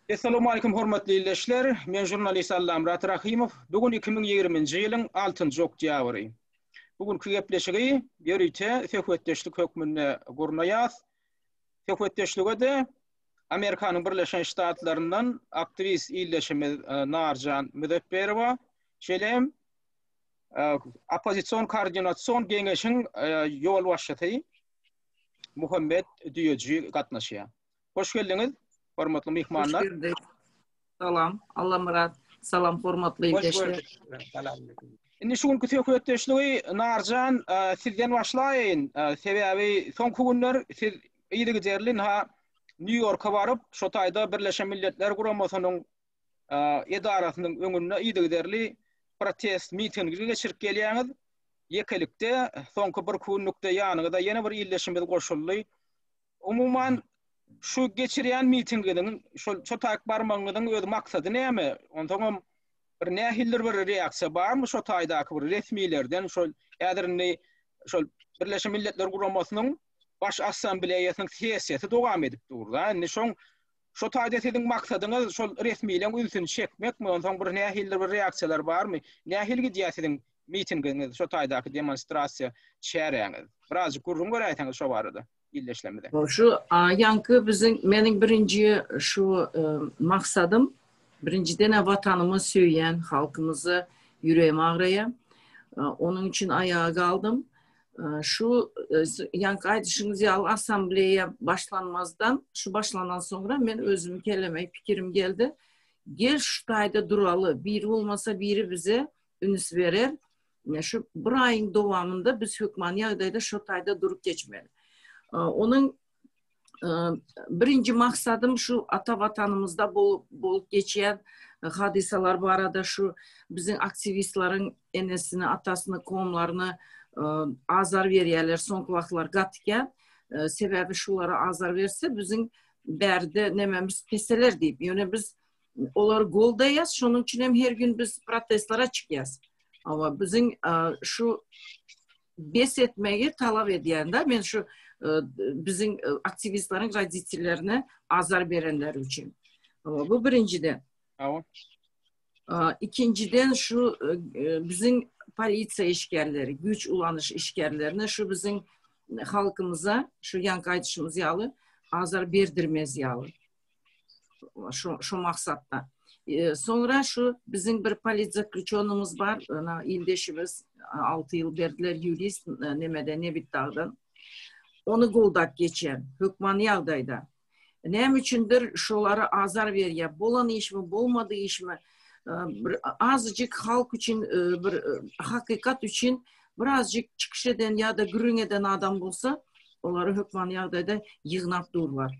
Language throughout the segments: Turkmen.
Essalamu aleykum hormatly ildeşler. Men jurnalist Allamyrat Rahymow. Bu gün 2020-nji ýylyň 6-njy oktýabry. Bu günki gepleşigi ýörite söhbetdeşlik hökmünde gurnaýas. Söhbetdeşlige-de Amerikanyň Birleşen Ştatlaryndan aktiwist ildeşimiz e, Narjan Müzepperowa, şeýle hem e, oppozision koordinatsion geňeşiň e, ýolbaşçysy Muhammet Düýeji gatnaşýar. Hoş geldiňiz, hormatly myhmanlar. Hoş geldik. Salam, Allamyrat. Salam, hormatly ildeşler. Indi şu günki söhbetdeşligi Narjan e, sizden başlaýyn. E, sebäbi soňky günler siz ýygy-ýygy ha Nýu-Ýorka baryp, şo taýda Birleşen Milletler Guramasynyň edarasynyň öňünde yzygiderli protest mitingi geçirip gelýäňiz. Ýekelikde soňky bir günlükde ýanyňyza ýene bir ildeşimiz goşuldy. Umuman şu geçirýän mitingiňiziň şol çotaýyk barmagyňyzyň öz maksady näme? Onsoň hem bir nähildir bir reaksiýa barmy şo taýdaky bir resmilerden şol häzir indi şol Birleşen Milletler Guramasynyň Baş Assambleýasynyň sessiýasy dowam edip dur. Indi şoň Şo taýda siziň maksadyňyz şol resmileň ünsüni çekmekmi, onsoň bir nähilidir bir reaksiýalar barmy? Nähili gidýär siziň mitingiňiz, şo taýdaky demonstrasiýa çäräňiz? Birazjyk gürrüň beräýseňiz şo barada ildeşlerimize. Şu ýaňky biziň, meniň birinji şu maksadym, birinjiden-ä Watanymy söýýän, halkymyzy ýüregim agraýar. Onuň üçin aýaga galdym. Şu ýaňky gaýdyşyňyz ýaly assambleýa başlanmazdan, şu başlanan soňra men özüm keleme pikirim geldi. Gel şu taýda duraly, biri bolmasa biri bize üns berer. Şu bir aýyň dowamynda biz hökmany ýagdaýda şu taýda durup geçmeli. Onuň birinji maksadym şu ata watanymyzda bolup bolup geçýän e, hadysalar barada şu biziň aktiwistleriň enesini, atasyny, komlaryny e, azar berýärler soňky wagtlar gatykýan. E, sebäbi şulara azar berse biziň bärde nememiz peseler diýip. Ýöne biz olary goldaýas, şonuň üçin hem her gün biz protestlere çykýas. Awa biziň şu bes etmegi talap edýän da men şu e, biziň e, aktiwistleriň roditellerine azar berenleri üçin. Bu birinjiden. Ikinciden şu e, biziň polisiýa işgärleri, güýç ulanyş işgärlerine şu biziň halkymyza şu ýanky aýdyşymyz ýaly azar berdirmez ýaly. şu şu maksatda. E, sonra şu bizim bir politzaklüçonumuz bar, ana ildeşimiz 6 yıl berdiler yurist e, nemede nebit dağdan. Onu goldak geçen hökman yağdayda. Näme üçindir şolara azar berýär? Bolan işmi, bolmadı işmi? E, bir azıcık halk üçin e, bir hakikat üçin birazcık çıkış eden ya da gürün eden adam bolsa, olary hökman yağdayda yığnap durlar.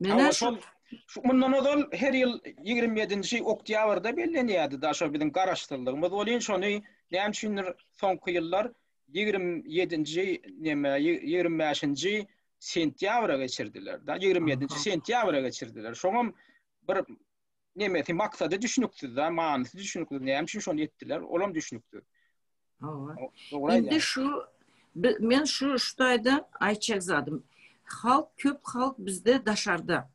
Mena şu şu mundan ozal her ýyl 27-nji oktýabrda bellenýärdi da şo biziň garaşsyzlygymyz bolýan şony näme üçindir soňky ýyllar 27-nji näme 25-nji sentýabra geçirdiler da 27-nji sentýabra geçirdiler şoňam bir nemesi maksady düşünüksiz da manysy düşünüksiz näme üçin şony etdiler olam düşünüksiz Hawa. Indi şu men şu şu taýda aýtjak zadym. Halk köp halk bizde daşarda.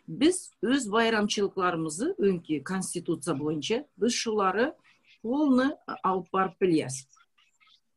Biz öz baýramçylyklarymyzy öňki konstitusiýa boýunça biz şulary polny alyp baryp bilýäs.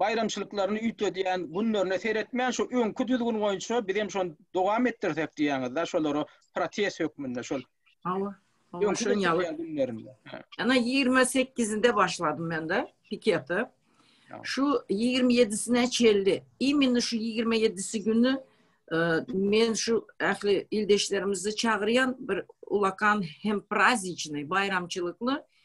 baýramçylyklaryny üýtgedýän günlerine seretmän şu öňki düzgün boýunça biz hem şony dowam etdirsek diýýäňizda şolara protest hökmünde şol Hawa. Hawa şoň ýaly günlerinde. Ana 28-inde başladym mende pikete. Şu 27-sine çeldi. Immini şu 27-si güni e, men şu ähli ildeşlerimizi çagyrýan bir ulakan hem prazdniçny, baýramçylykly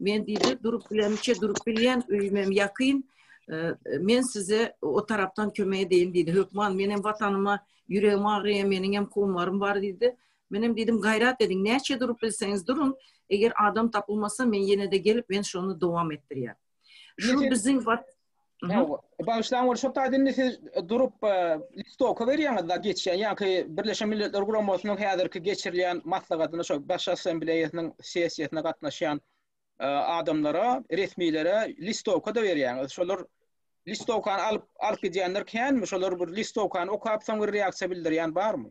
Men diýdi, durup bilemçe durup bilýän, öýümem ýakyn. Men size o tarapdan kömek edeýin diýdi. Hökman menem watanyma ýüregim agyrýar, meniňem kowmarym bar diýdi. Menem diýdim, gaýrat ediň, näçe durup bilseňiz duruň, eger adam tapylmasa, men ýene-de gelip, men şony dowam etdirýän. Şu biziň Bagyşlaň ol şo taýda indi siz durup listoka berýäňiz da geçýän ýaňky Birleşen Milletler Guramasynyň häzirki geçirilýän maslahatyna şo Baş Assambleýasynyň sessiýasyna gatnaşýan adamlara, resmilere listoka da berýäňiz. Şolar listokany alyp alyp gidýänler känmi? Şolar bir listokany okap soň bir reaksiýa bildirýän barmy?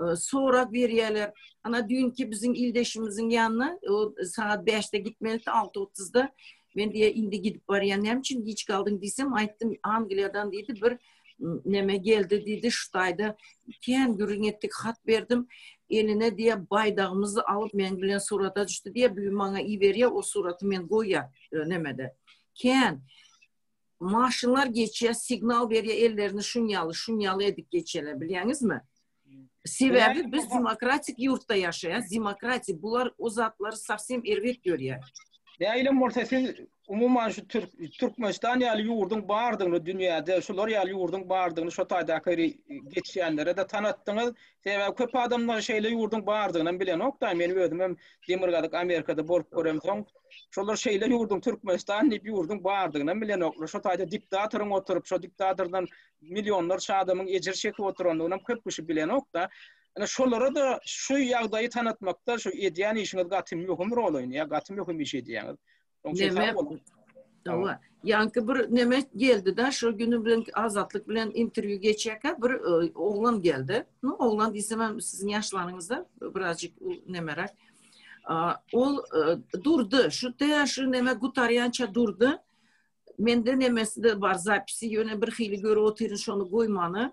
e, sorag berýärler. Ana düýnki biziň ildeşimiziň ýanyna e, sagat 5-de gitmelidi, 6.30-da men diýe indi gidip barýan näme üçin giç galdyň diýsem aýtdym angliýadan diýdi bir näme geldi diýdi şu taýda kän gürrüň etdik hat berdim eline diýe baýdagymyzy alyp men bilen surata düşdi diýe bu maňa iberýär o suraty men goýýar e, nämede kän maşynlar geçýär, signal berýär, ellerini şun ýaly, şun ýaly edip geçýärler, bilýäňizmi? Sebäbi biz demokratik ýurtda ýaşaýas, demokratiýa bular o zatlary sowsem erbet görýär. Näilem bolsa siz umuman şu Türk Türkmenistan ýaly ýurduň bardygyny dünýäde, şular ýaly ýurduň bardygyny şo taýdaky geçýänlere-de tanatdyňyz. Sebäbi köp adamlar şeýle ýurduň bardygyny hem bilenok da, men özüm hem Demirgazyk Amerikada bolup göremsoň, şolar şeýle ýurduň Türkmenistan diýip ýurduň bardygyny hem bilenoklar. Şo taýda dikdatoryň oturyp, şo dikdatordan millionlarça adamyň ejir çekip oturandygyny hem köp kişi bilenok da. Ine şolara da şu ýagdaýy tanatmakda şu edýän işiňiz gaty möhüm rol oýnaýar, gaty möhüm iş edýäňiz. Neme? Ýanky bir neme geldi-de, şol güni bilen Azatlyk bilen interwýu geçýärkä bir e, oglan geldi. No, oglan diýsem hem siziň ýaşlaryňyzda birazjyk nemeräk. Ol e, durdy, şu täze şu neme gutarýança durdy. Mende nemesi de bar zapisi, ýöne bir hili görüp otyryn şony goýmany.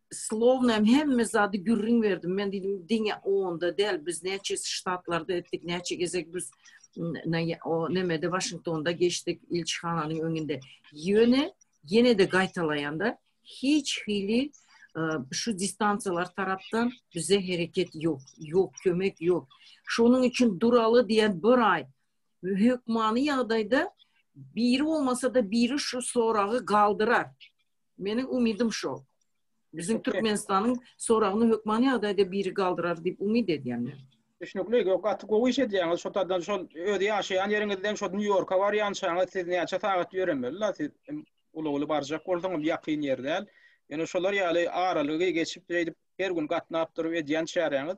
Slowna hem hemme zady gürrüň berdim. Men diýdim, diňe onda däl, biz näçe ştatlarda etdik, näçe gezek biz o nemede Waşingtonda geçdik ilçihananyň öňünde. Ýöne ýene-de gaýtalaýanda hiç hili şu distansiýalar tarapdan bize hereket ýok, ýok kömek ýok. Şonuň üçin duraly diýen bir aý hökmany ýagdaýda biri olmasa da biri şu soragy galdyrar. Meniň umydym şo. Biziň Türkmenistanyň soragyny hökman ýagdaýda biri galdyrar diýip umyt edýän men. Düşnükli, gaty gowy iş edýäňiz. Şo taýdan şol öz ýaşaýan ýeriňizden şo Nýu-Ýorka barýançaňyz siz näçe sagat ýöremeli la siz uly-uly barjak bolsaňyz ýakyn ýer däl. Ýöne şolar ýaly aralygy geçip şeýdip her gün gatnap durup edýän çäräňiz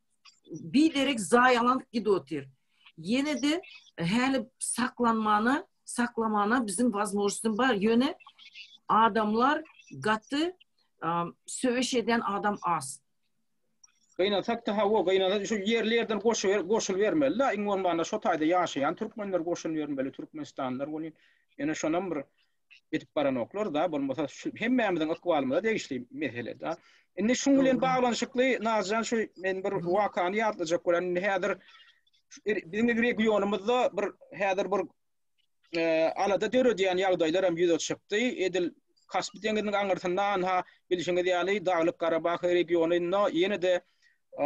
biderek zaýalanyp gidip otyr. Ýene de häli saklanmana, saklamana biziň wazmožnosym bar. Ýöne adamlar gaty söweş edýän adam az. Gynasak da hawa, gynasak şu ýerli ýerden goşup goşulyp bermeli da, iň bolmanda şo taýda ýaşaýan türkmenler goşulyp bermeli, türkmenistanlylar bolýar. Ýöne şonam bir edip baranoklar-da, bolmasa şu hemmämiziň ykbalymyza degişli mesele-de. Indi şuň bilen baglanyşykly Nazjan şu men bir wakany ýatlajak bolan indi häzir er, biziň regionymyzda bir häzir bir e, alada döredýän ýagdaýlar hem ýüze çykdy. Edil Kaspi deňiziniň aňyrsynda anha bilşiňiz ýaly Daglyk Garabag regionynda ýene-de e,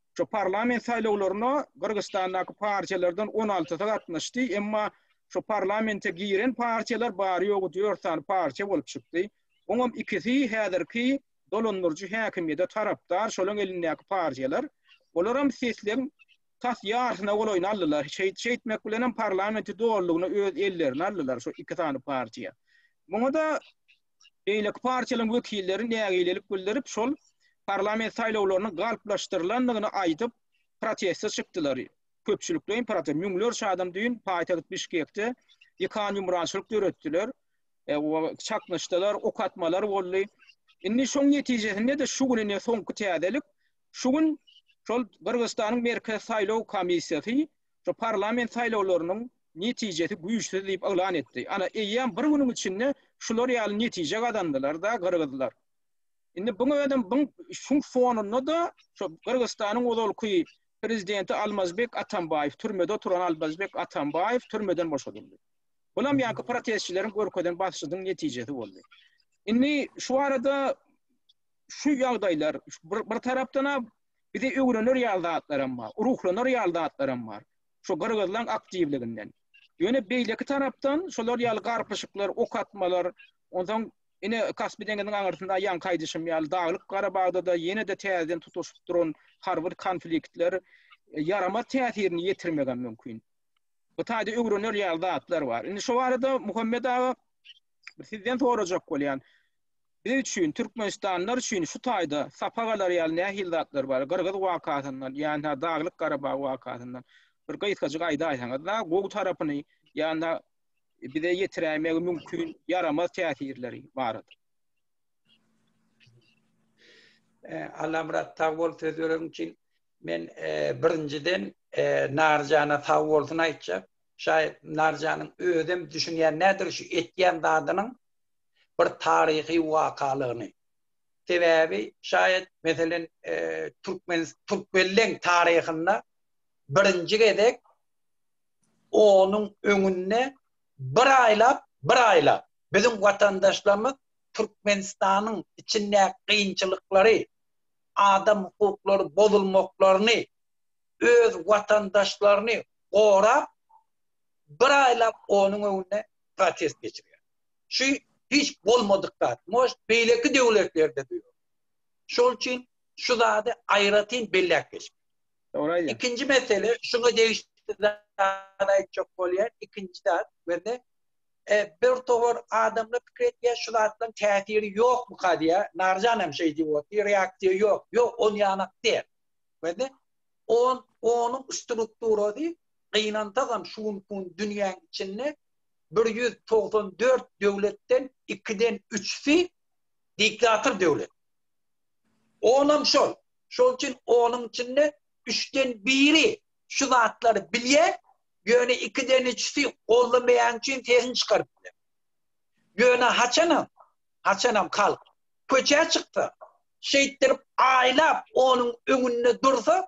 Şu parlament saýlawlaryna Gyrgyzstandaky partiýalardan on altysy gatnaşdy, emma şu parlamente giren partiýalar bary-ýogy dört sany partiýa bolup çykdy. Oňam ikisi häzirki dolandyryjy häkimiýete tarapdar, şolaryň elindäki partiýalar. Olaram sesleň tas ýarsyna golaýyny aldylar. Şeýt, şeýtmek bilenem parlamenti dolulygyna öz ellerine aldylar şu iki sany partiýa. Muňa-da beýleki partiýalaryň wekilleri nägilelik bildirip, şol parlament saýlawlarynyň galplaşdyrylandygyny aýdyp, proteste çykdylar. Köpçülikleýin protest, müňlerçe adam düýn paýtagt Bişkekde ýykan-ýumrançylyk döretdiler, çaknyşdylar, ok atmalar boldy. Indi şoň netijesinde-de şu gün ine soňky täzelik, şu gün şol Gyrgyzystanyň Merkezi saýlaw komissiýasy şu parlament saýlawlarynyň netijesi güýçsüz diýip yglan etdi. Ana, eýýäm bir günüň içinde şular ýaly netije gazandylar-da gyrgyzlar. Indi buň özem buň şuň fonunda-da şu Gyrgyzystanyň ozalky prezidenti Almazbek Atambaýew, türmede oturan Almazbek Atambaýew türmeden boşadyldy. Bulam ýaňky protestçileriň görkezen basyşynyň netijesi boldy. Indi şu arada şu ýagdaýlar bir tarapdan-a Bizi öwrener ýaly zatlaram bar, ruhlanar ýaly zatlaram bar. Şu gyrgyzlaň aktiwliginden. Ýöne beýleki tarapdan şolar ýaly garpyşyklar, ok atmalar, onsoň ine Kaspi deňiziniň aňyrsynda ýaňky aýdyşym ýaly Daglyk Garabagda-da ýene-de täzeden tutuşyp duran harby konfliktler ýaramaz täsirini ýetirmegem mümkin. Bu taýda öwrener ýaly zatlar bar. Indi şu barada Muhammet aga sizden sorajak bolýan. Biz üçin, türkmenistanlylar üçin şu taýda sapa galar ýaly nähili zatlar bar? Gyrgyz wakasyndan, ýa-da Daglyk Garabag wakasyndan bir gysgajyk aýdaýsaňyz-da, gowy tarapyny, ýa-da bize ýetiräýmegi mümkin ýaramaz täsirleri barada. Allamyrat, sag bol söz beregiň üçin. Men birinjiden Narjana sag bolsun aýtjak. Şaýat Narjanyň özem düşünýän nädogry şu etýän zadynyň bir taryhy wakalygyny, sebäbi şaýat meselen türkmen türkmenleň taryhynda birinji gezek onuň öňünde bir aýlap bir aýlap biziň watandaşlarymyz Türkmenistanyň içindäki kynçylyklary, adam hukuklary bozulmaklaryny, öz watandaşlaryny gorap bir aýlap onuň öňünde protest geçirýär. Şu hiç bolmadyk zat. Moş beýleki döwletlerde bu. Şol üçin şu zady aýratyn belläp geçmek. Oraya. İkinci mesele şuna değişti zaten çok bolýar. İkinci zat bende e, bir towar adamla pikir etýär, şu zatdan täsiri ýokmy kadýa? Narjan hem şey diýip otyr, reaksiýa ýok. Ýok, on ýanak diýär. Bende on onuň strukturasy gynantagam şu gün dünýäň içinde bir ýüz togsan dört döwletden ikiden üçüsi diktator döwlet. Onam şol. Şol üçin onuň içinde üçden biri şu zatlary bilýär, ýöne ikiden üçüsi goldamaýan üçin sesini çykaryp biler. Ýöne haçanam, haçanam halk köçä çyksa, şeýtdirip aýlap onuň öňünde dursa,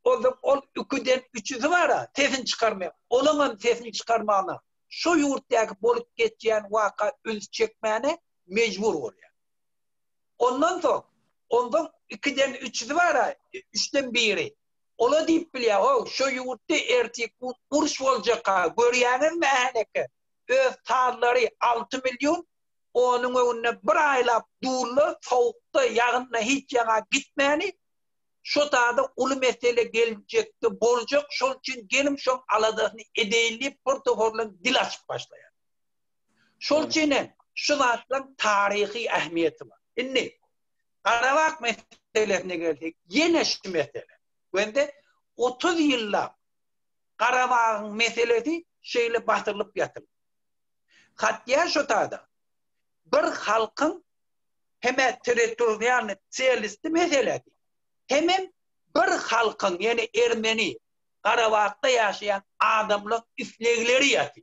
Onda ol üküden üçüsi bar-a, sesini çykarmaýan. Olaňam sesini çykarmagyna şo ýurtdaky bolup geçýän waka üns çekmäne mejbur bolýar. Ondan soň, onda ikiden üçüsi bar-a, üçden biri. Ol-a diýip bilýär, Ho, şo ýurtda ertir gün uruş boljak-a, görýäňizmi ählekä? Öz tazlary alty million, onuň öňünde bir aýlap durla, sowukda, ýagynda hiç ýaňa gitmäni, Şo zada uly mesele geljekde boljak, şol üçin geliň şoň aladasyny edeýin diýip bir toparlan dil açyp başlaýar. Şol üçin hem şu zatlaň taryhy ähmiýeti bar. Indi Garabag meselesine gelsek, ýene şu mesele. Wende otuz ýyllap Garabagyň meselesi şeýle basylyp ýatyr. Hatýa şo zada bir halkyň hemä territorialny çelistli meseledi. Hemem bir halkyň, ýene ermeni, Garabagda ýaşaýan adamlaň islegleri ýaty.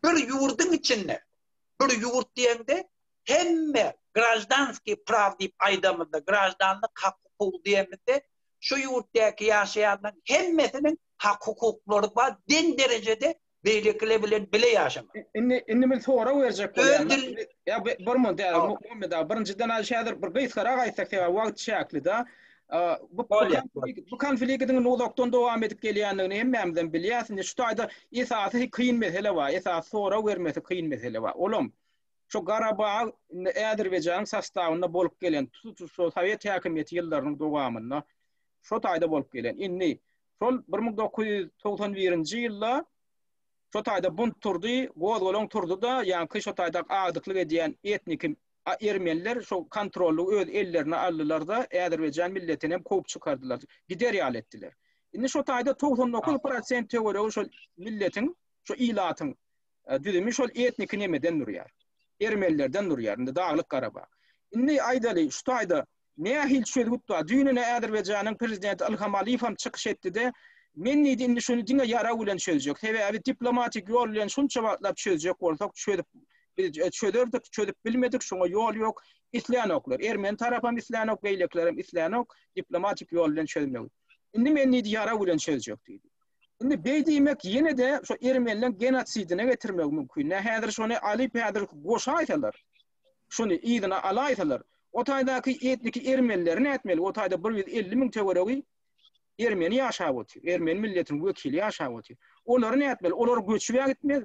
Bir ýurduň içinde, bir ýurt diýende, hemme graždanskiý praw diýip aýdamyzda, graždanlyk hak-hukuk diýemizde, şu ýurtdaky ýaşaýanlaň hemmesiniň hak-hukuklary bar, deň derejede beýlekiler bilen bile ýaşamak. Indi indi men sorag berjek bolýan. Ýa bir mun däl, Muhammet aga, birinjiden aý häzir bir gysgarak aýtsak, sebäbi wagt çäkli-de. Bu bu konfliktiň uzakdan dowam edip gelýändigini hemmämizem bilýäs. Indi şu taýda esasy kyn mesele bar, esasy sorag bermesi kyn mesele bar. Olam şu Garabag indi Äzerbaýjanyň sastawynda bolup gelen, tutuş şu sowet häkimiýeti ýyllarynyň dowamynda şu taýda bolup gelen. Indi Şol bir müň dokuz ýüz togsan birinji ýylda şo taýda bunt turdy, gozgalaň turdy-da, ýaňky şo taýda agdyklyk edýän etniki ermeniler şo kontrollygy öz ellerine aldylar-da, äzerbaýjan milletinem kowup çykardylar, gider ýaly etdiler. Indi şo taýda togsan dokuz prosent töweregi şol milletiň, şo ilatyň düzümi şol etniki nemeden durýar, ermenilerden durýar, indi Daglyk Garabag. Indi aýdaly, şu taýda nähili çözgüt bar? Düýnene Azerbaýjanyň prezidenti Ilham Aliýew hem çykyş etdi-de, Men diýdi, indi şuny diňe ýarag bilen çözjek. Sebäbi diplomatik ýol bilen şunça wagtlap çözjek bolsak, çözüp biz çözerdik, çözüp bilmedik, şoňa ýol ýok. Islänoklar, ermeni tarapam islänok, beýlekilerem islänok diplomatik ýol bilen çözmegi. Indi men diýdi, ýarag bilen çözjek diýdi. Indi beý diýmek ýene-de şo ermenileriň genosidine getirmegi mümkin. Nä häzir şony alyp häzir goşaýsalar, şuny yzyna alaýsalar, o taýdaky etniki ermenileri nätmeli, o taýda bir ýüz elli müň töweregi ermeni ýaşap otyr, ermeni milletiniň wekili ýaşap otyr. Olary nätmeli, olar göçüb-ä gitmez.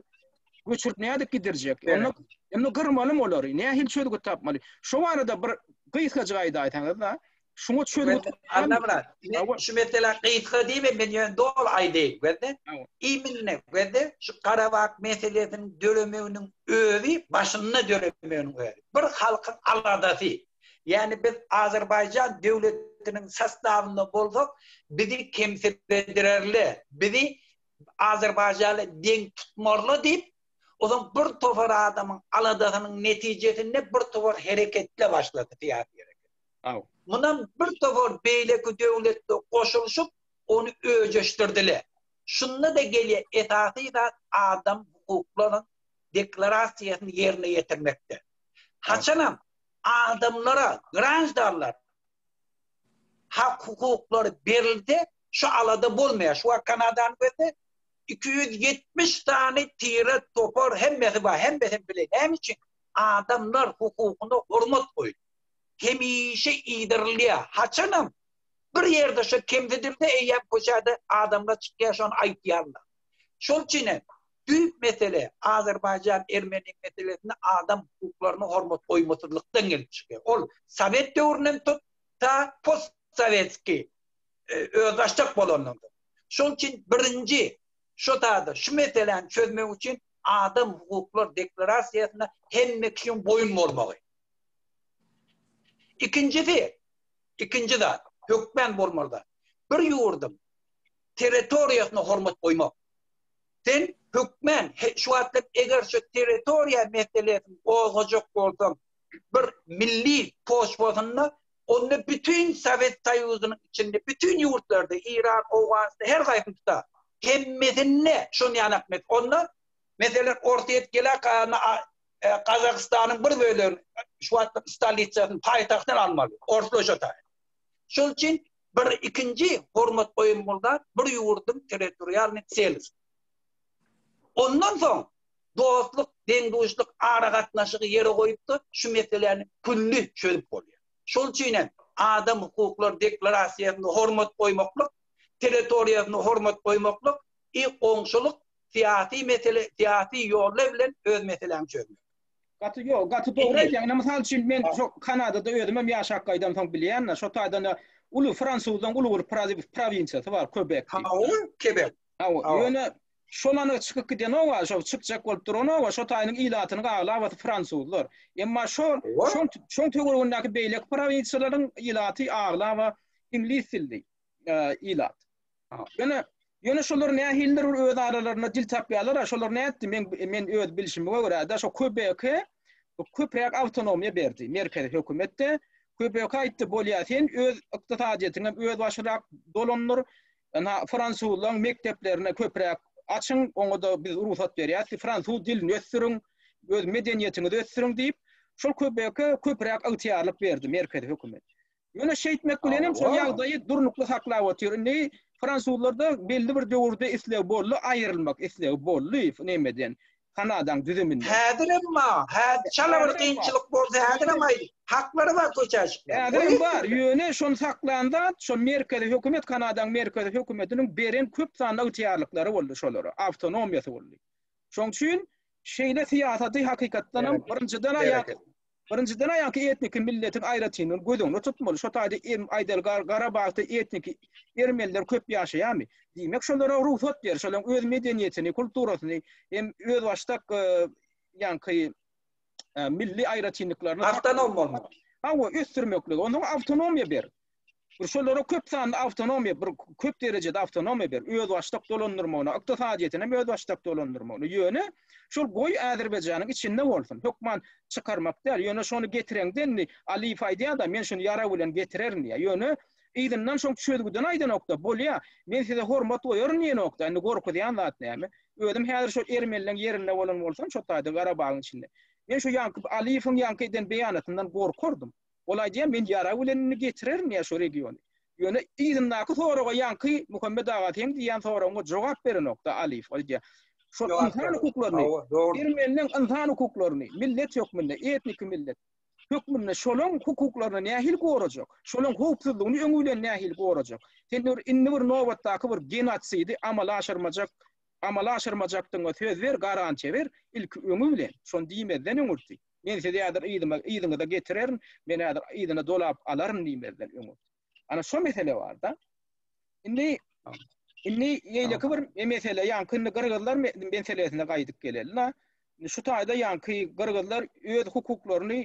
Göçürip nädip gidirjek? Onda, onda gyrmalymy olary? Nähili çözgüt tapmaly? Şo barada bir gysgajyk aýdaýsaňyz-da, Şuňa çözgüt tapylan. Anna şu mesele gysga diýme, men ýöne doly aýdaýyn, görde. Iminne, görde, şu Garabag meselesini döremeginiň özi, başynda döremeginiň özi. Bir halkyň aladasy. Ýani biz Azerbaýjan döwletiniň sastawynda bolsak, bizi kemsidirerler, bizi Azerbaýjana deň tutmarlar diýip, ozan bir topar adamyň aladasynyň netijesinde bir topar hereketler başlady, syýasy. Aw. Mundan bir topar beýleki döwletler goşulyşyp, ony öjeşdirdiler. Şunda-da gelýän esasy zat adam hukuklarynyň deklarasiýasyny ýerine ýetirmekdir. Haçanam adamlara, graždanlara hak-hukuklary berilse, şu alada bolmaýar. Şu wagt Kanadany görsek, iki ýüz ýetmiş sany tire, topar hemmesi bar. Hemmesini biler. Näme üçin? Adamlar hukugyna hormat goýýar. hemişe iýdirilýär, haçanam bir ýerde şu kemsidildi eýýäm köçäde adamlar çykýar şony aýtýarlar. Şol üçin hem düýp mesele Azerbaýjan Ermeni meselesinde adam hukuklaryna hormat goýmasyzlykdan gelip çykýar. Ol sowet döwründen tut ta post sowetski özbaşdak bolandan soň. Şol üçin birinji şu taýda şu meseläni çözmek üçin adam hukuklar deklarasiýasyna hemme kişiň boýun bolmagy. Ikinjisi, ikinji zat, hökmän bolmaly-da, bir ýurduň territoriýasyna hormat goýmak. Sen hökmän şu wagtlar eger şu territoriýa meselesini gozgajak bolsaň, bir milli poçwasynda, onda bütin Sowet Soýuzynyň içinde, bütin ýurtlarda, Eýran, Owganystan, her haýsyny tutar, hemmesinde şony ýanak mes, onda, meselem, Orsýet gelä, Gazagystanyň bir bölegini şu wagtky stolitsasyny, paýtagtyny almaly, orslaşa taýyn. Şol üçin bir ikinji hormat goýulmaly zat bir ýurduň territorialnyý tselisi. Ondan soň dostluk, deň-duşluk aragatnaşygy ýere goýupdyr, şu meseläni külli çözüp bolýar. Şol üçin hem Adam hukuklary deklarasiýasyna hormat goýmaklyk, territoriýasyna hormat goýmaklyk I. Goňşulyk, syýasy mesele, syýasy ýolla bilen öz meseläňi çözmek. Gaty ýo, gaty dogry aýtýaň. Ine, mysal üçin, men şo Kanadada özümem ýaşap gaýdansoň bilýän-de, şo taýdan-da uly fransuzlaryň uly bir praziw, prowinsiýasy bar, Köbek diýip. Hawa, Kebek. Hawa, ýöne şolanyň çykyp gidenok wa, şo çykjak bolup duranok wa, şo taýynyň ilatynyň aglabasy fransuzlar. Emma şo, şoň, şoň töweregindäki beýleki prowinsiýalaryň ilaty aglaba iňlis dilli. ilat. Ýöne Ýöne şolar nähilidir bir öz aralarynda dil tapýarlar, şolar nätdi? Men men öz bilşime görä-de, şo Köbeke köpräk awtonomiýa berdi. Merkezi hökümetde Köbeke aýtdy, bolýar, sen öz ykdysadyýetiňe öz başyrak dolandyr. Ana fransuzlaryň mekdeplerini köpräk açyň, oňa-da biz rugsat berýäris. Fransuz dilini ösdüriň, öz medeniýetiňizi ösdüriň diýip, şol Köbeke köpräk ygtyýarlyk berdi merkezi hökümet. Ýöne şeýtmek bilenem şol ýagdaýy durnukly saklap otyr. Indi fransuzlarda belli bir döwürde isleg boldy, aýrylmak islegi boldy nemeden, Kanadaň düzüminden. Häzirem bar. Häzir çala bir kynçylyk bolsa, häzirem aýt. Haklary bar köçä çykmak. Häzirem bar. Ýöne şony saklan zat, şol merkezi hökümet, Kanadaň merkezi hökümetiniň beren köp sanly ygtyýarlyklary boldy şolara, awtonomiýasy boldy. Şoň üçin şeýle syýasaty hakykatdanam birinjiden-ä ýa Birinjiden aýanky etniki milletiň aýratynlygyny göz öňünde tutmaly. Şo taýda em aýdaly Gar- Garabagda etniki ermeniler köp ýaşaýarmy? Diýmek şolara rugsat ber, şolaryň öz medeniýetini, kulturasyny hem özbaşdak e, ýaňky e, milli aýratynlyklaryny Awtonom bolmaly. Hawa, ösdürmeklige, onsoň awtonomiýa ber. Bir şolara köp sanly awtonomiýa, bir köp derejede awtonomiýa ber, özbaşdak dolandyrmagyna, ykdysadyýetini hem özbaşdak dolandyrmagyna. Ýöne şol goý Azerbaýjanyň içinde bolsun, hökman çykarmak däl, ýöne şony getireňde indi Aliýew aýdýar-da, men şuny ýarag bilen getirerin diýýär. Ýöne yzyndan şoň çözgüdini aýdanok-da, bolýa, men size hormat goýaryn diýenok-da, indi gorkuzýan zat näme? Özüm häzir şol ermenleň ýerinde bolan bolsam, şo taýda Garabagyň içinde, men şu ýaňky Aliýewiň ýaňky eden beýanatyndan gorkardym. Ol aýdýar, men ýarag bilen indi getirerin diýýär şo regiony. Ýöne yzyndaky soraga ýaňky Muhammet aga seň diýýän soragyňa jogap berenok-da Aliýew. Ol aýdýar, şol ynsan hukuklaryny, ermeniniň ynsan hukuklaryny, millet hökmünde, etniki millet hökmünde şolaň hukuklaryny nähili gorajak, şolaň howpsuzlygyny öňi bilen nähili gorajak? Sen bir indi bir nobatdaky bir genosidi amala aşyrmajak, amala aşyrmajakdygyňa söz ber, garantiýa ber, ilki öňi bilen, şony diýmezden öňürti. Men sizi häzir yzyma, yzyňyza getirerin, meni häzir yzyna dolap alaryn diýmezden öň. Ana şo mesele bar-da. Indi indi ýeýleki bir mesele, ýaňky indi gyrgyzlar meselesine gaýdyp geleli-la. Şu taýda ýaňky gyrgyzlar öz hukuklaryny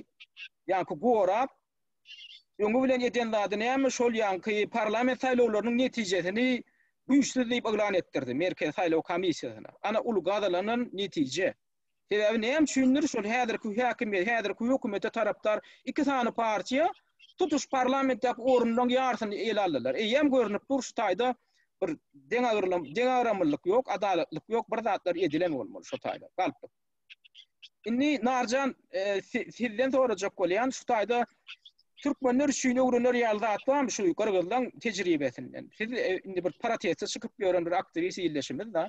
ýaňky gorap, öňi bilen eden zady näme, şol ýaňky parlament saýlawlarynyň netijesini güýçsüz diýip yglan etdirdi Merkezi saýlaw komissiýasyna. Ana ul gazalanan netije. Sebäbi näme üçindir şol häzirki häkimiýet, häzirki hökümete tarapdar iki sany partiýa tutuş parlamentdäki orunlaryň ýarysyny ele aldylar. Eýýäm görnüp dur şu taýda bir deňagyrlyk, deňagramlylyk ýok, adalatlyk ýok, bir zatlar edilen bolmaly şu taýda. Galpdyk. Indi Narjan e, sizden sorajak bolýan şu taýda türkmenler üçin öwrenir ýaly zat barmy şu gyrgyzlaryň tejribesinden? Siz e, indi bir proteste çykyp ýören bir aktiwist ýerleşimiz da.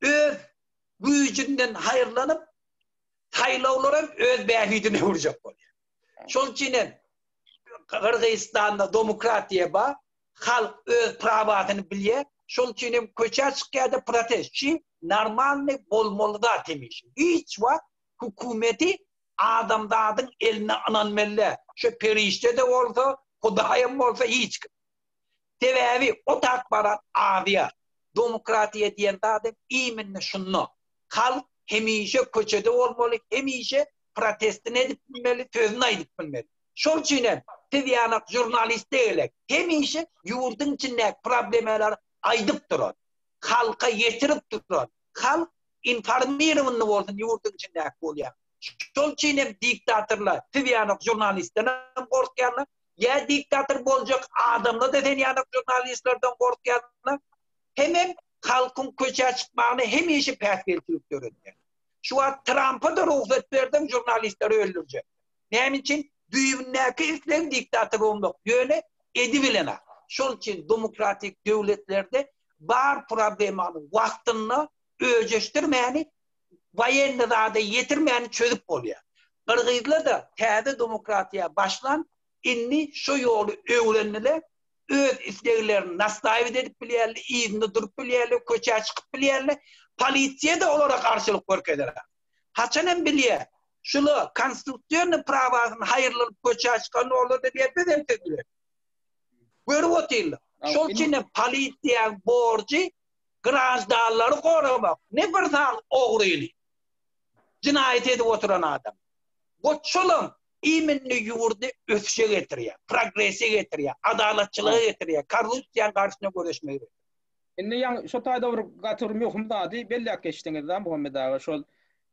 öz güýjünden haýyrlanyp, saýlawlar hem öz bähbidine urjak bolýar. Şol üçin hem Gyrgyzystanda demokratiýa bar, halk öz prawasyny bilýär, şol üçin hem köçä çykýar-da protest. Şu normalny bolmaly zat hemişe. Hiç wagt hökümeti adamzadyň eline ynanmaly däl. Şu perişde-de bolsa, Hudaý hem bolsa hiç kim. Sebäbi ot akbarat azýar. Domokratiýa diýen zadem iminni şunda. Halk hemişe köçede bolmaly, hemişe protestini edip bilmeli, sözüni aýdyp bilmeli. Şol üçin hem siz ýanak žurnaliste gelek, hemişe ýurduň içindäki problemalary aýdyp duran, halka ýetirip duran, halk informirowanyny bolsun ýurduň içindäki bolýan. Şol üçin hem diktatorlar siz ýanak žurnalistdenem gorkýarlar, Ýa diktator boljak adamlarda sen ýaly žurnalistlerden gorkýarlar, hemem halkyň köçä çykmagyny hemişe päsgelçilik döredýär. Şu wagt Trampa-da rugsat berseň žurnalistleri öldürjek. Näme üçin? Düýbündäki isleg diktator bolmak, ýöne edi bilen ak. Şol üçin demokratik döwletlerde bar problemany wagtynda öjeşdirmäni baýenli zada ýetirmäni çözüp bolýar. Gyrgyzlar-da täze demokratiýa başlan, indi şo ýoly öwrendiler, öz isleglerini nastaýwit edip bilýärler, yzynda durup bilýärler, köçä çykyp bilýärler, polisiýa-da olara garşylyk görkezerak. Haçan hem bilýär, şular konstitusionnyý prawasyny haýyrlanyp köçä çykanda olar-da diýer biz hem siz bilen. Görüp otyrlar. Şol üçin hem polisiýaň borjy graždanlary goramak ne bir san ogryny, jenaýat edip oturan adamy. Bu çulam immini ýurdy ösüşe getirýär, progrese getirýär, adalatçylyga getirýär, korrupsiýanyň garşyna göreşmegi getirýär. Indi ýaňy şu taýda bir gaty bir möhüm zady belläp geçdiňiz da Muhammet aga şol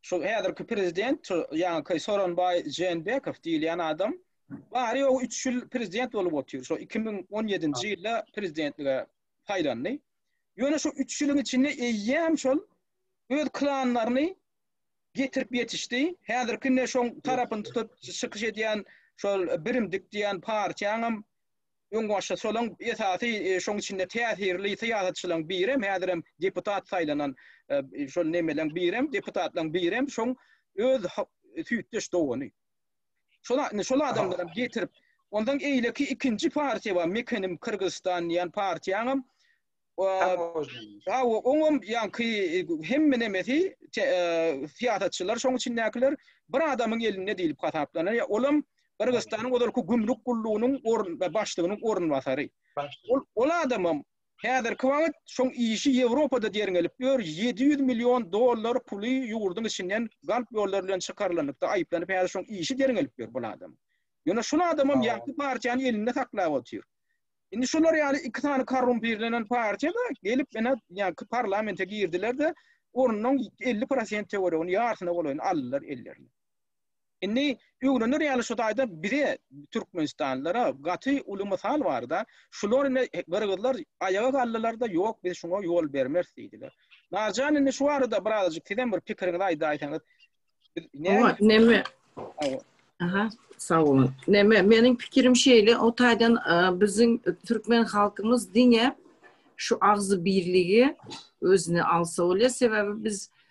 şu häzirki prezident şu ýaňyky Soronbaý Jeenbekow diýilýän adam bary ýogy üç ýyl prezident bolup otyr şo iki müň on ýedinji ýylda prezidentlige saýlandy. Ýöne şu üç ýylyň içinde eýýäm şol öz klanlaryny getirip ýetişdi. Häzirki indi şoň tarapyny tutup çykyş edýän şol Birimdik diýen partiýaňam öňbaşçysy, şolaň esasy e, şoň içinde täsirli syýasatçylaryň birem, häzirem deputat saýlanan e, şol nemeleň birem, deputatlaryň birem şoň öz süýtdeş dogany. Şola, indi şol adamlar hem getirip, ondan eýleki ikinji partiýa bar, Mekenim Kyrgyzstan diýen partiýaňam, Hawa, oňam ýaňky hemme nemesi syýasatçylar, şoň içindäkiler bir adamyň elinde diýlip hasaplanýar. Olam Gyrgyzstanyň ozalky gümrük gullugynyň başlygynyň orunbasary. Ol adamam Häzirki wagt şoň işi Ýewropada derňelip ýör, ýedi ýüz million dollar puly ýurduň içinden galp ýollar bilen çykarylanlykda aýyplanyp häzir şoň işi derňelip ýör bul adam. Ýöne şul adamam ýagty partiýany elinde saklap otyr. Indi şular ýaly iki sany korrumpirlenen partiýada gelip ene ýaňky parlamente girdiler-de ornuň elli prosent töweregini ýarsyna golaýyny aldylar ellerine. Indi öwrener ýaly şu taýda bize türkmenistanlylara gaty uly mysal barda, şular indi gyrgyzlar aýaga galdylarda ýok biz şuňa ýol bermeris diýdiler. Narjan indi şu barada birazajyk sizem bir pikiriňizi aýdaýsaňyz. Owa neme? Aha. Sag bolun. Neme, meniň pikirim şeýle, o taýdan biziň türkmen halkymyz diňe şu agzy birligi özüne alsa bolýar, sebäbi biz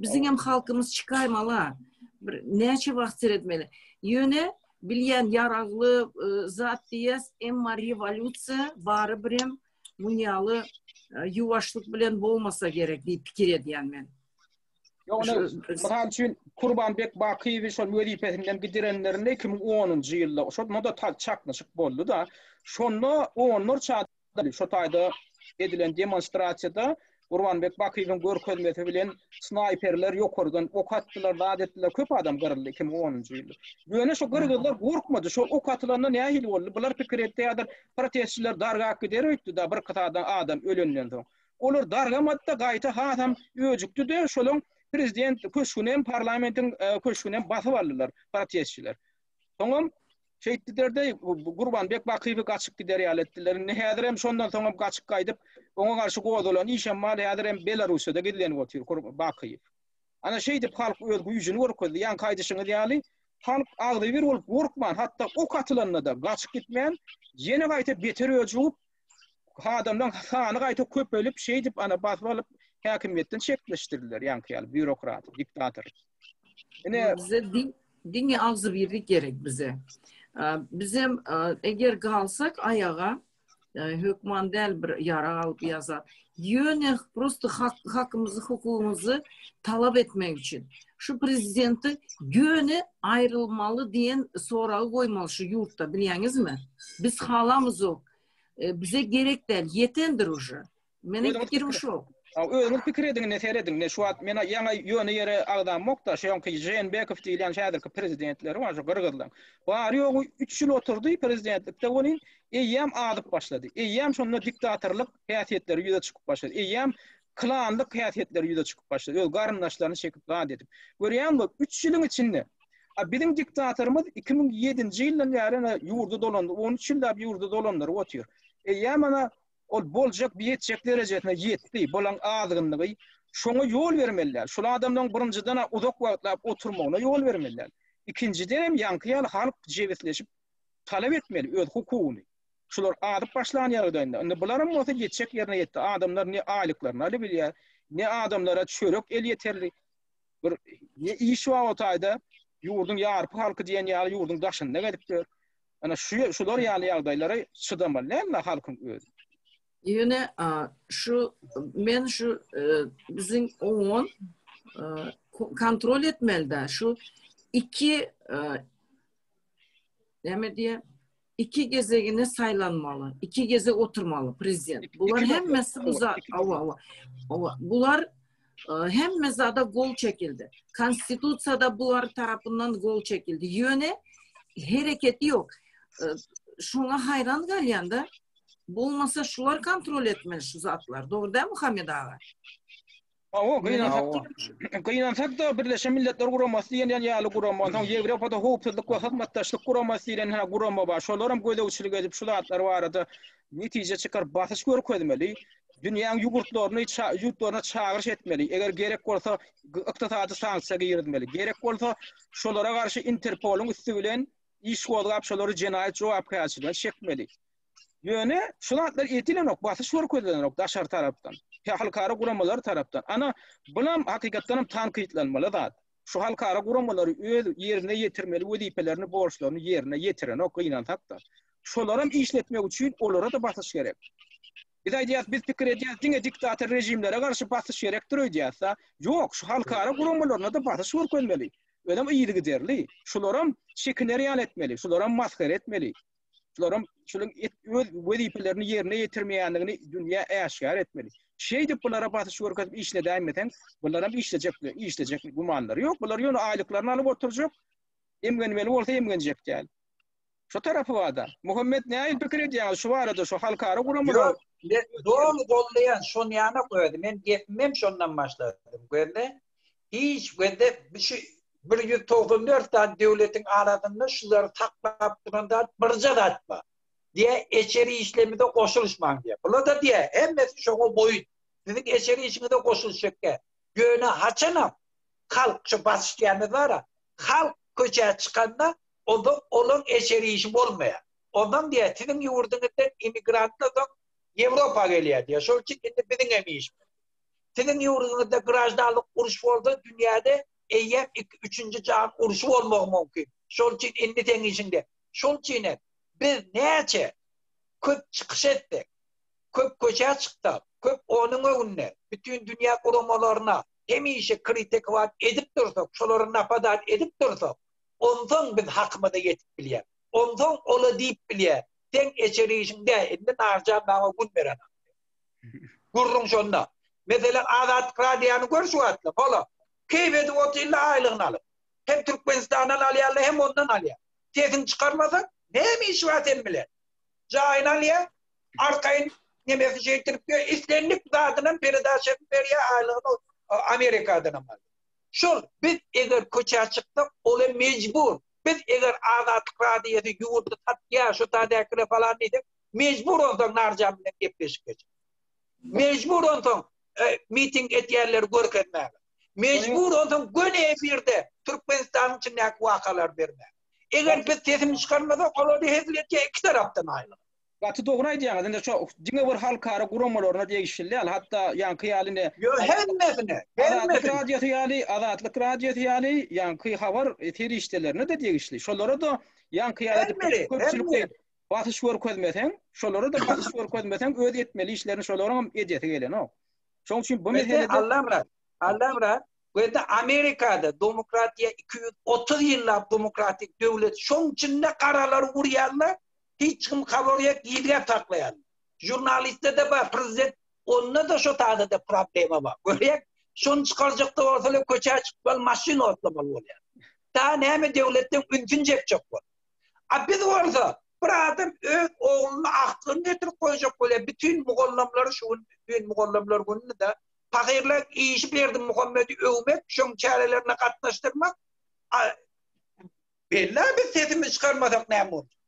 Biziň hem halkymyz çykaýmaly. Bir näçe wagt seretmeli. Ýöne bilýän ýaragly e, zat diýýäs, emma rewolýusiýa barybir hem munýaly e, ýuwaşlyk bilen bolmasa gerek diýip pikir edýän men. Ýogny, mysal üçin Kurbanbek Bakyýewi şol wezipesinden gidirenlerinde 2010-njy ýylda, şonda da çaknyşyk boldy-da, şonda onlarça Şu taýda edilen demonstrasiýada Gurbanbek Bakyýewiň görkezmesi bilen snaýperler ýokardan ok atdylar, zat etdiler, köp adam gyryldy iki müň onunjy ýylda. Ýöne şu gyrgyzlar gorkmady, şu ok atylanda nähili boldy? Bular pikir etýärdir, protestçiler dargap gider öýtdi-de, birki sada adam ölenden soň. Olar dargamady-da, gaýta hasam öjükdi-de, şolaň prezident köşgünem, parlamentiň köşgünem basyp aldylar protestçiler. Soňam şeýtdiler deý, Gurbanbek Bakyýewi gaçyp gider ýaly etdiler. Indi häzir hem şondan soňam gaçyp gaýdyp, oňa garşy gozalan işem bar, häzir hem Belarussiýada gizlenip otyr Bakyýew. Ana şeýdip halk öz güýjüni görkezdi. Ýaňky aýdyşyňyz ýaly, halk agzybir bolup gorkman, hatda ok atylanda-da gaçyp gitmän, ýene gaýta beter öjügip, adamlaryň sany gaýta köpelip, şeýdip ana basyp alyp häkimiýetden çetleşdirdiler ýaňky ýaly býurokrat, diktator. Ine bize diňe agzybirlik gerek bize. Bizem eger galsak aýaga hökman däl bir ýarag alyp ýa zat. Ýöne prosto hakymyzy, hukugymyzy talap etmek üçin şu prezidenti ýöne aýrylmaly diýen soragy goýmaly şu ýurtda, bilýäňizmi? Biz halamyzok. E, bize gerek däl, ýetendir uje. Meniň pikirim şu. Özüňiz pikir ediňinde serediň, şu wagt men ýaňa ýöne ýere agzamok-da, şoňky Jeenbekow diýilýän şu häzirki prezidentleri bar, şu gyrgyzlaň. Bary ýogy 3 ýyl oturdy prezidentlikde, welin eýýäm azyp başlady. Eýýäm şonda diktatorlyk häsiýetleri ýüze çykyp başlady. Eýýäm klanlyk häsiýetleri ýüze çykyp başlady. Öz garyndaşlaryny çekip zat edip. Görýäňmi, üç ýylyň içinde A biziň diktatorymyz 2007-nji ýyldan bäri ana ýurdy dolandy. 13 ýyllap ýurdy dolandyryp otyr. Eýýäm ana ol boljak biýetjek derejesine ýetdi. Bolaň azgynlygy şoňa ýol bermeliler. Şul adamlaryň birinjiden a uzak wagtlap oturmagyna ýol bermeliler. Ikinjiden hem ýaňky ýaly halk jebisleşip talap etmeli öz hukugyny. Şular azyp başlan ýagdaýynda, indi bularam bolsa ýetjek ýerine ýetdi. Adamlar ne aýlyklaryny alybilýär, ne adamlara çörek elýeterli. Bir ne iş bar o taýda, ýurduň ýarpy halky diýen ýaly ýurduň daşynda gezip ýör. Ana şu şular ýaly ýagdaýlara çydamaly dälmi halkyň özi? Ýöne şu men şu biziň oňon kontrol etmeli-dä şu iki näme diýe iki gezegine saýlanmaly, iki gezek oturmaly prezident. Bular hemmesi bu zat, awa, awa, awa, bular e, hemme zada gol çekildi. Konstitusiýada bular tarapyndan gol çekildi. Ýöne hereketi ýok. E, şoňa haýran galýanda, bolmasa şular kontrol etmeli şu zatlar. Dogry däl Muhammed aga? Hawa, gynansak, gynansak-da Birleşen Milletler Guramasy diýen ýaly gurama, onsoň Ýewropada Howpsuzlyk we Hyzmatdaşlyk Guramasy diýlen hä gurama bar. Şolar hem gözegçilik edip, şu zatlar barada netije çykaryp, basyş görkezmeli. Dünýäň ýugurtlaryny, ýurtlaryna çagyryş etmeli. Eger gerek bolsa, ykdysady sanksiýa girizmeli. Gerek bolsa, şolara garşy Interpolyň üsti bilen iş gozgap, şolary jenaýat jogapkärçiligine çekmeli. Ýöne şu zatlar etilenok, basyş görkezilenok daşary tarapdan. He halkara guramalar tarapdan. Ana, bulam hakykatdan hem tankytlanmaly zat. Şu halkara guramalary öz ýerine ýetirmeli wezipelerini, borçlaryny ýerine ýetirenok gynansak-da. Şolaram işletmek üçin olara-da basyş gerek. Biz aýdýas, biz pikir edýäs, diňe diktator režimlere garşy basyş gerekdir öýdýäs-de. Ýok, şu halkara guramalaryna-da basyş görkezmeli. Özem yzygiderli. Şularam şekinereal etmeli, şularam masgara etmeli. şularam şunuň öz wezipelerini ýerine ýetirmeýändigini dünýä äşgär etmeli. Şeýdip bulara basyş görkezip işledäýmeseň, bularam işlejekler, işlejek gümanlary ýok. Bular ýöne aýlyklaryny alyp oturjak. Emgenmeli bolsa emgenjek däl. Şu tarapy barda. Muhammet näil pikir edýäňiz şu barada şu halkara guramalar? Ýok, doly goldaýan, şonýanok özi. Men gepimem şondan başladym. Görle. Hiç wende şu bir ýüz togsan dört sany döwletiň arasynda şulary saklap duran zat birje zat bar. Diýe eçeri işlemize goşulyşmaň diýe. Bulada diýe hemmesi şoňa boýun. Siziň eçeri işiňize goşulyşjak diýe. Ýöne haçanam halk şu basyş diýýäniz bara, halk köçä çykanda onda olaň eçeri işi bolmaýar. Ondan diýe siziň ýurduňyzdan emigrantlar soň Ýewropa gelýär diýe. Şol üçin indi biziňem işimiz. Siziň ýurduňyzda graždanlyk uruş bolsa, dünýäde eýýäm iki, üçünji jahan urşy bolmagy mümkin. Şol üçin indi seň işiň dek. Şol üçin hem biz näçe köp çykyş etsek, köp köçä çyksak, köp onuň öňünde bütin dünýä guramalaryna hemişe kritikowan edip dursak, şolary napadan edip dursak, onsoň biz hakymyza ýetip bilýäris. Onsoň ola diýip bilýäris, Seň eçer işiň dä, indi Narjan maňa gün berenok diýip. Gürrüň şonda. Meselem, Azatlyk Radiýany gör şu wagtlar. Hala, keýp edip otyrlar aýlygyny alyp. Hem Türkmenistandan alýarlar, hem ondan alýar. Sesiňi çykarmasaň, näme işi bar seniň bilen? Jaýyny alýar, arkaýyn nemesi şeýtirip ýör, islendik zadynam peredaça edip berýär, aýlygyny Amerikadanam alýar. Şol, biz eger köçä çyksak, ol hem mejbur. Biz eger Azatlyk Radiýasy ýurdy satýar, şu taýdakylar falan diýsek, mejbur onsoň Narjan bilen gepleşik geçirmek. Mejbur onsoň e, miting edýänleri görkezmek. Mejbur onsoň göni efirde Türkmenistanyň içindäki wakalar bermek. Eger biz sesini çykarmasak, olary hezil etýär iki tarapdan aýlyk. Gaty dogry aýdýaňyz. Indi şu diňe bir halkara guramalaryna degişli däl. Hatda ýaňky ýaly indi Ýo hemmesine, Azatlyk radiosy ýaly, Azatlyk radiosy ýaly ýaňky habar serişdelerine de degişli. Şolara da ýaňky ýaly köpçülikde basyş görkezmeseň, şolara-da basyş görkezmeseň, öz etmeli işlerini şolaryňam edesi gelenok. Şoň üçin bu meselede... Allamra, Allamra, bu ýerde Amerikada demokratiýa 230 ýyllap demokratik döwlet, şoň içinde garalar urýarlar, hiç kim habar ýok, gizläp saklaýarlar. Žurnalistde-de bar, prezident, onda-da şo taýda-da problema bar. Görýäň, şony çykarjakda bolsalar, köçä çykmaly, maşyn otlamaly bolýar. Daha näme döwletden ünsün çekjek bolup. A biz bolsa bir adam öz ogluny agtygyny getirip goýjak bolýar bütin mugallamlary şu gün bütin mugallamlar gününida pahyrlaň işi berdimuhammedi öwmek şoň çärelerine gatnaşdyrmak a bella biz sesimizi çykarmasak näme boljak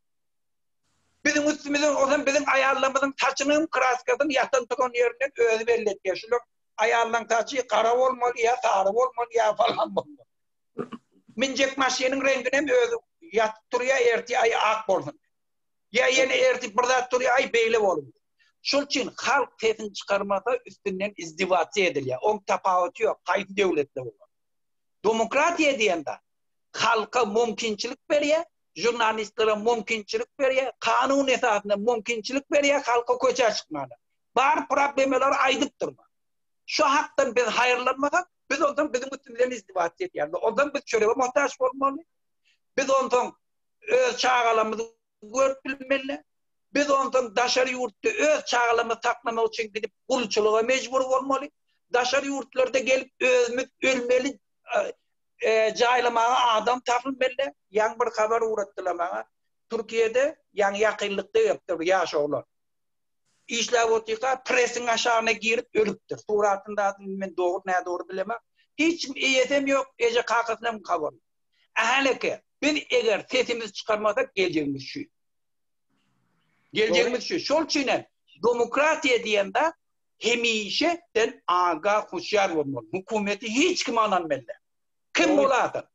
biziň üstümize ozan biziň aýallarymyzyň saçynyň kraskasyny ýatan turan ýerinden özi belli etýär şular aýallaň saçy gara bolmaly ýa sary bolmaly ýa falan bolmaly Minjek maşynyň reňginem özi ýatyp turýar, ertir aý ak bolsun. Ýa ýene ertir bir zat turýar, aý beýle bolun. Şol üçin halk sesini çykarmasa üstünden izdiwasiýa edilýär. Oň tapawuty ýok, haýsy döwletde bolar. Demokratiýa diýende halka mümkinçilik berýär, žurnalistlere mümkinçilik berýär, kanun esasynda mümkinçilik berýär halka köçä çykmaga. Bar problemalary aýdyp durma. Şu hakdan biz haýyrlanmasak, biz onsoň biziň üstümiz bilen izdiwaç edýärler. Onsoň biz çörege muhtaç bolmaly. Biz onsoň öz çagalarymyzy görüp bilmeli. Biz onsoň daşary ýurtda öz çagalarymyzy saklamak üçin gidip gulçulyga mejbur bolmaly. Daşary ýurtlarda gelip özümiz ölmeli jaýlamaga adam tapylmeli. Ýaňy bir habar ugratdylar maňa. Türkiýede ýaňy ýakynlykda gelipdir bu ýaş oglan. Işläp otyrka presiň aşagyna girip ölüpdir. Suratyny zat indi men dogry nädogry bilemok. Hiç kim eýesem ýok, eje kakasynam habar ýok. Ahaleke, biz eger sesimizi çykarmasak geljegimiz şu. Geljegimiz şu. Şol üçin hem demokratiýa diýen zat hemişe sen aga huşýar bolmaly. Hökümeti hiç kime ynanmeli. Kim bolada.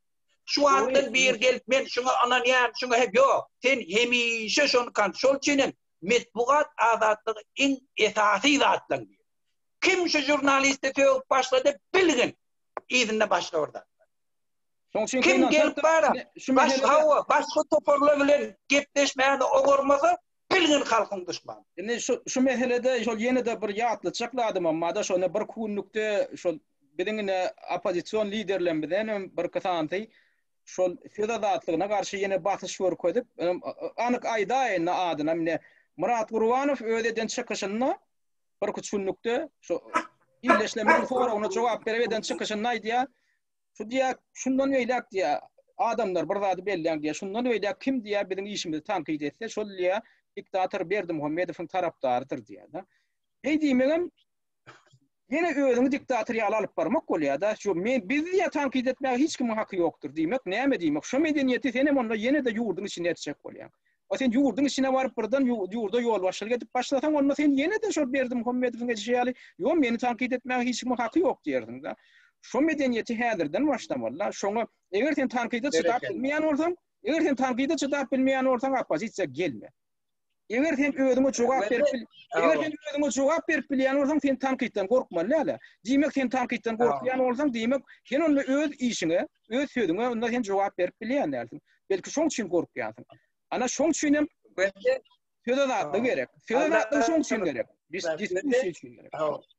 Şu wagtdan bir gelip men şuňa ynanýan, şuňa hep ýok. Sen hemişe şony kan. Şol üçin hem metbugat azatlygy iň esasy zatlaň biri. Kim şu žurnalisti sögüp başlady bilgin. Yzynda başga bir zat. Kim gelip bara, baş hawa, başga toparlar bilen gepleşmäni oňarmasa, bilgin halkyň duşmany. Indi şu şu meselede şol ýene-de bir ýatlatjak zadym hem bar-da, şonda bir kunlukda şol biziň ine oppozision liderlerimiz hem birki sandy. şol söz azatlygyna garşy ýene basyş görkezip, anyk aýdaýyn-da adynam ine, Myrat Gurbanow öz eden çykyşynda birki üç günlükde şu illeşlemleriň soragyna jogap berip eden çykyşynda aýdýar, şu diýýär, şundan beýläk diýýär, adamlar bir zady belläň diýýär, şundan beýläk kim diýýär biziň işimizi tankyt etse, şol diýýär diktator Berdimuhamedowyň tarapdarydyr diýýär-de. Beý diýmegem Ýene özüňi diktator ýaly alyp barmak bolýada, şu men biz diýýä tankyt etmäge hiç kimiň haky ýokdur diýmek näme diýmek şo medeniýeti senem onda ýenede ýurdyň içinde etjek bolýaň. A sen ýurdyň içine baryp birden ýurda ýolbaşçylyk edip başlasaň onda sen ýenede şol Berdimuhamedowyň edişi ýaly ýo meni tankyt etmäge hiç kimiň haky ýok diýersiň da. Şo medeniýeti häzirden başlamaly da şoňa eger sen tankyda çydap bilmeýän bolsaň eger sen tankyda çydap bilmeýän bolsaň oppozisiýa gelme. Eger sen özüňe jogap berip bil, eger sen özüňe jogap berip bilýän bolsaň, sen tankytdan gorkmaly däl. Diýmek, sen tankytdan gorkýan bolsaň, diýmek, sen onda öz işiňe, öz sözüňe onda sen jogap berip bilýän dälsiň. Belki şoň üçin gorkýansyň. Ana şoň üçin hem söz azatlygy gerek. Söz azatlygy şoň üçin gerek. Biz diskussiýa üçin gerek.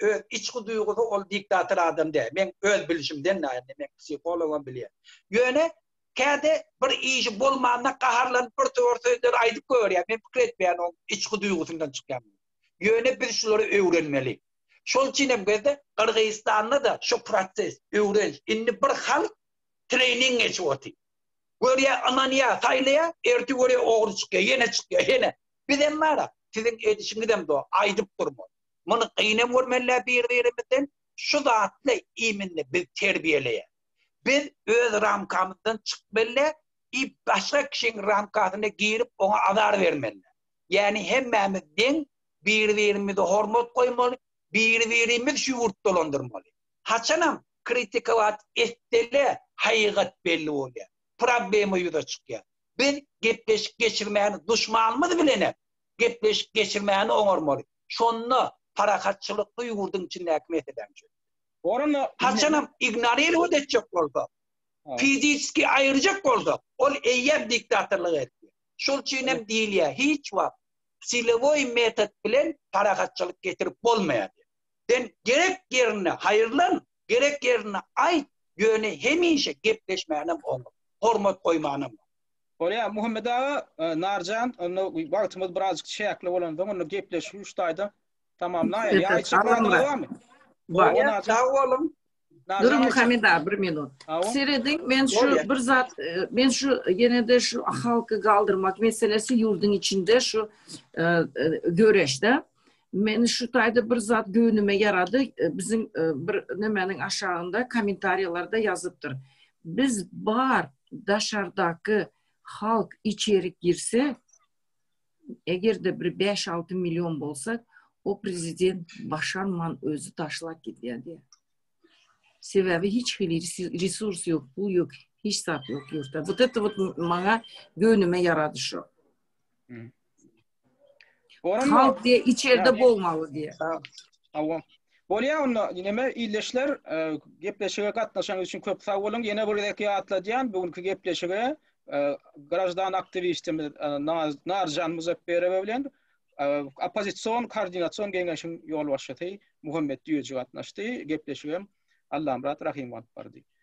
öz içki duýgusy ol diktator adam däl. Men öz bilişimden näme men psihologam bilýän. Ýöne käde bir işi bolmanda gaharlanyp bir töwür sözleri aýdyp goýberýär. Men pikir etmeýän ol içki duýgusyndan çykýan. Ýöne biz şulary öwrenmeli. Şol üçin hem gözde Gyrgyzystanda da şu proses öwrenç. Indi bir halk trening geçip otyr. Görýä, ynanýa, saýlaýa, ertir görýä ogry çykýa, ýene çykýa, ýene. Biz hem bara siziň edişiňizem do, aýdyp durma. Muny gynem görmelä bir-birimizden, şu zatly iýmini biz terbiýeleýä. Biz öz ramkamyzdan çykmelä i başga kişiň ramkasyna girip oňa azar bermelä. Ýani hemmämiz deň, bir-birimize hormat goýmaly, bir-birimiz şu ýurt dolandyrmaly. Haçanam kritikować etselä haýygat belli bolýa, problema ýüze çykýa. Biz gepleşik geçirmäni duşmanymyz bilenem gepleşik geçirmäni oňarmaly. Şonda parahatçylykly ýurduň içindäki meselem çözüler. Orana haçanam ignoririwat etjek bolsa, fiziski aýyrjak bolsa, ol eýýäm diktatorlyk etdi. Şol üçin hem diýilýär, hiç wagt silowoý metod bilen parahatçylyk getirip bolmaýar. Sen gerek ýerinde haýyrlan, Gerek ýerinde aýt, ýöne hemişe gepleşmänem oňat, hormat goýmanam oňat. Bolýar, Muhammet aga, Narjan, onda wagtymyz birazjyk çäkli bolansoň, onda gepleşigi şu taýdan tamamlaýaly. Ýa aýtjak zadyňyz barmy? Bolýar, sag boluň. Duruň, Muhammet aga, bir minut. Serediň, men şu bir zat, men şu ýene-de şu halky galdyrmak meselesi ýurduň içinde şu göreşde. Meni şu taýda bir zat göwnüme ýarady. E, biziň e, bir nemäniň aşagynda kommentariýalarda ýazypdyr. Biz bar daşardaky halk içerik girse, eger-de bir 5-6 million bolsa, o prezident başarman özü taşlap gidýär diýär. Sebäbi hiç hili resurs ýok, pul ýok, hiç zat ýok ýurtda. Bu da maňa göwnüme ýarady şu. Oran Halk diye içeride bolmalı diye. Tamam. Bolýa onda neme illeşler e, gepleşige gatnaşan üçin köp sag bolun. Ýene bir gezek ýatladýan bu günki gepleşige e, grajdan aktiwistimiz e, Narjan Muzakberowa bilen oppozision koordinasion geňeşiň ýolbaşçysy Muhammet Düýeji gatnaşdy. Gepleşigem Allamrat Rahim alyp bardy.